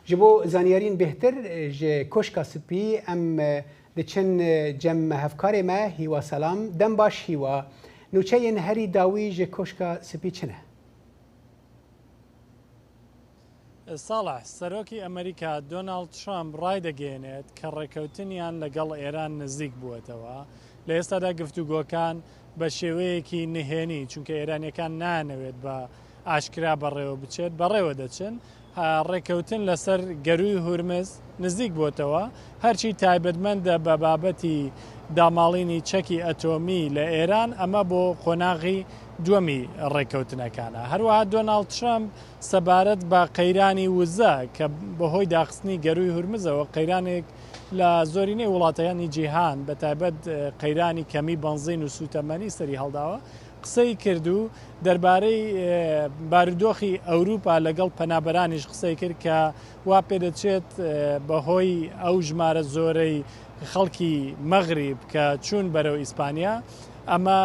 ژە بۆ زانیاریین بێهتر ژە کۆشکا سپی ئەم دە چن جە مە هەڤکارێ مە هیوا سەلام دەم باش هیوا نوچە یێن هەری داوی ژە کۆشکا سپی چنە؟ ساڵح، سەرۆکی ئەمەریکا دۆناڵد ترەمپ ڕایدەگەیەنێت کە ڕێککەوتنیان لەگەڵ ئێران نزیک بووەتەوە، لە ئێستادا گفتوگۆکان بە شێوەیەکی نهێنی چونکە ئێرانییەکان نایانەوێت بە ئاشکرا بەڕێوەبچێت، بەڕێوەدەچن، ڕێککەوتن لەسەر گەرووی هورمز نزیکبۆتەوە، هەرچی تایبەتمەندە بە بابەتی داماڵینی چەکی ئەتۆمی لە ئێران، ئەمە بۆ قۆناغی دووەمی ڕێککەوتنەکانە. هەروەها دۆناڵد ترەمپ سەبارەت بە قەیرانی وزە کە بەهۆی داخستنی گەرووی هورمزەوە قەیرانێک لە زۆرینەی وڵاتەکانی جیهان بەتایبەت قەیرانی کەمی بەنزین و سووتەمەنی سەریهەڵداوە، قسەی کرد و دەربارەی بارودۆخی ئەوروپا لەگەڵ پەنابەرانیش قسەی کرد کە وا پێدەچێت بەهۆی ئەو ژمارە زۆرەی خەڵکی مەغریب کە چوون بەرەو ئیسپانیا ئەمە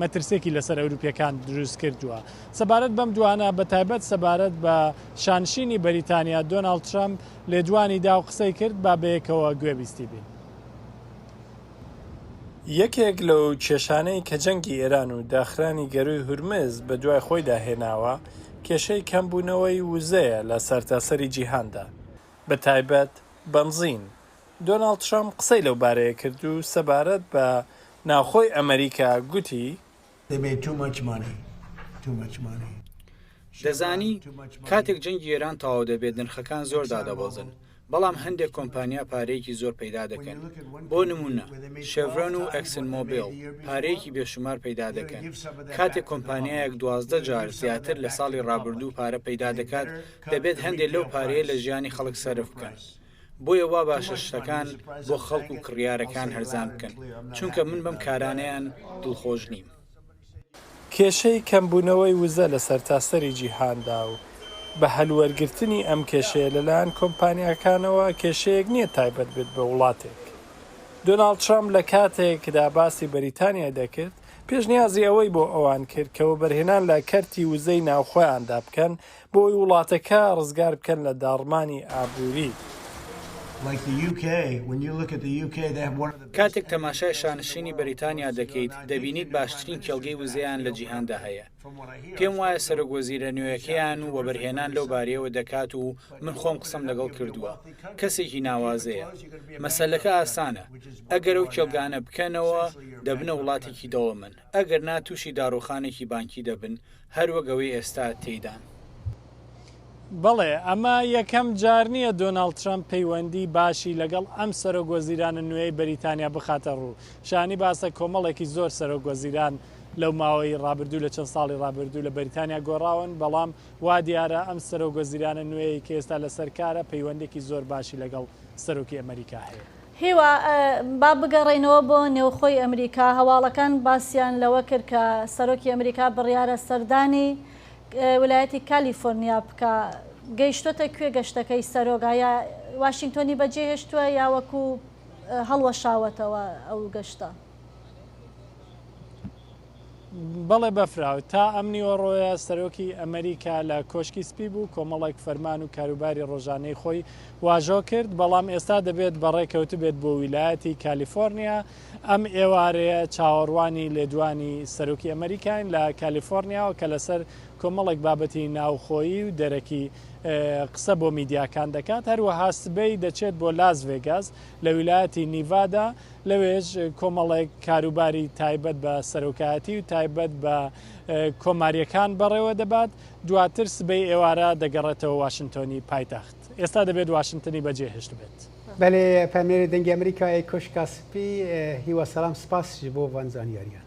مەترسێکی لەسەر ئەوروپیەکان دروست کردووە سەبارەت بەم دوانە بە تایبەت سەبارەت بە شانشینی بەریتانیا دۆناڵد ترەمپ لێدوانی دا و قسەی کرد با بەیەکەوە گوێبیستی بین. یەکێک لەو کێشانەی کە جەنگی ئێران و داخرانی گەرووی هورمز بە دوای خۆیدا هێناوە، کێشەی کەمبوونەوەی وزەیە لە سەرتاسەری جیهاندا، بە تایبەت بەنزین. دۆناڵد ترەمپ قسەی لەو بارەیە کرد و سەبارەت بە ناوخۆی ئەمریکا گوتی، دەبێ تو مەچ مانی تو مەچ مانی. دەزانی کاتێک جەنگی ئێران تەواو دەبێت نرخەکان زۆر دادەبەزن بەڵام هەندێک کۆمپانیا پارەیەکی زۆر پەیدا دەکەن بۆ نمونە شێڤرۆن و ئەکسن مۆبیل پارەیەکی بێشومار پەیدا دەکەن کاتێک کۆمپانیایەک دوازدە جار زیاتر لە ساڵی ڕابردوو پارە پەیدا دەکات دەبێت هەندێک لەو پارەیە لە ژیانی خەڵک سەرف بکەن بۆیە وا باشە شتەکان بۆ خەڵک و کڕیارەکان هەرزان بکەن، چونکە من بەم کارانەیان دڵخۆش نیم. کێشەی کەمبوونەوەی وزە لە سەرتاسەری جیهاندا و بە هەلوەرگرتنی ئەم کێشەیە لەلایەن کۆمپانیاکانەوە کێشەیەک نییە تایبەت بێت بە وڵاتێک. دۆناڵد ترەمپ لە کاتێکدا باسی بەریتانیای دەکرد، پێشنیازی ئەوەی بۆ ئەوان کرد کە وەبەرهێنان لە کەرتی وزەی ناوخۆیاندا بکەن بۆی وڵاتەکە ڕزگار بکەن لە داڕمانی ئابووری. کاتێک تەماشای شانشینی بەریتانیا دەکەیت، دەبینیت باشترین کێڵگەی وزەیان لە جیهاندا هەیە. پێم وایە سەرۆک وەزیرە نوێیەکەیان وەبەرهێنان لەو بارەیەوە دەکات و من خۆم قسەم لەگەڵ کردووە، کەسێکی ناوازەیە. مەسەلەکە ئاسانە، ئەگەر ئەو کێڵگانە بکەنەوە، دەبنە وڵاتێکی دەوڵەمەند. ئەگەر نا تووشی داڕووخانێکی بانکی دەبن هەر وەک ئەوەی ئێستا تێیدان. بەڵێ، ئەمە یەکەم جار نییە دۆناڵد ترەمپ پەیوەندیی باشی لەگەڵ ئەم سەرۆکوەزیرانە نوێی بەریتانیا بخاتە ڕوو. شایانی باسە کۆمەڵێکی زۆر سەرۆکوەزیران لەو ماوەی ڕابردوو لە چەند ساڵی ڕابردوو لە بەریتانیا گۆڕاون، بەڵام وا دیارە ئەم سەرۆکوەزیرانە نوێی کە ئێستا لەسەر کارە پەیوەندییەکی زۆر باشی لەگەڵ سەرۆکی ئەمەریکا هەیە. هیوا، با بگەڕێینەوە بۆ نێوخۆی ئەمریکا، هەواڵەکان باسیان لەوە کرد کە سەرۆکی ئەمریکا بڕیارە سەردانی ویلایەتی کالیفۆرنیا بکا، گەیشتۆتە کوێ گەشتەکەی سەرۆک؟ ئایا واشینگتۆنی بەجێ هێشتووە یا وەکو هەڵوەشاوەتەوە ئەو گەشتە؟ بەڵێ بەفرە، تا ئەم نیوەڕۆیە سەرۆکی ئەمریکا لە کۆشکی سپی بوو، کۆمەڵێک فەرمان و کاروباری ڕۆژانەی خۆی واژۆ کرد، بەڵام ئێستا دەبێت بەڕێ کەوتبێت بۆ ویلایەتی کالیفۆرنیا، ئەم ئێوارەیە چاوەڕوانی لێدوانی سەرۆکی ئەمریکاین لە کالیفۆرنیاوە کە لەسەر کۆمەڵێک بابەتی ناوخۆیی و دەرەکی قسە بۆ میدیاکان دەکات، هەروەها سبەی دەچێت بۆ لاس ڤێگاس لە ویلایەتی نیڤادا، لەوێش کۆمەڵێک کاروباری تایبەت بە سەرۆکایەتی و تایبەت بە کۆماریەکان بەڕێوە دەبات دواتر سبەی ئێوارە دەگەڕێتەوە واشنگتۆنی پایتەخت ئێستا دەبێت واشنگتنی بەجێهشت بێت. بەێ پەمێری دەنگی ئەمریکا ئەی کۆشکا سپی هیوا سەسلام سپاس بۆ ڤان زانیاریان.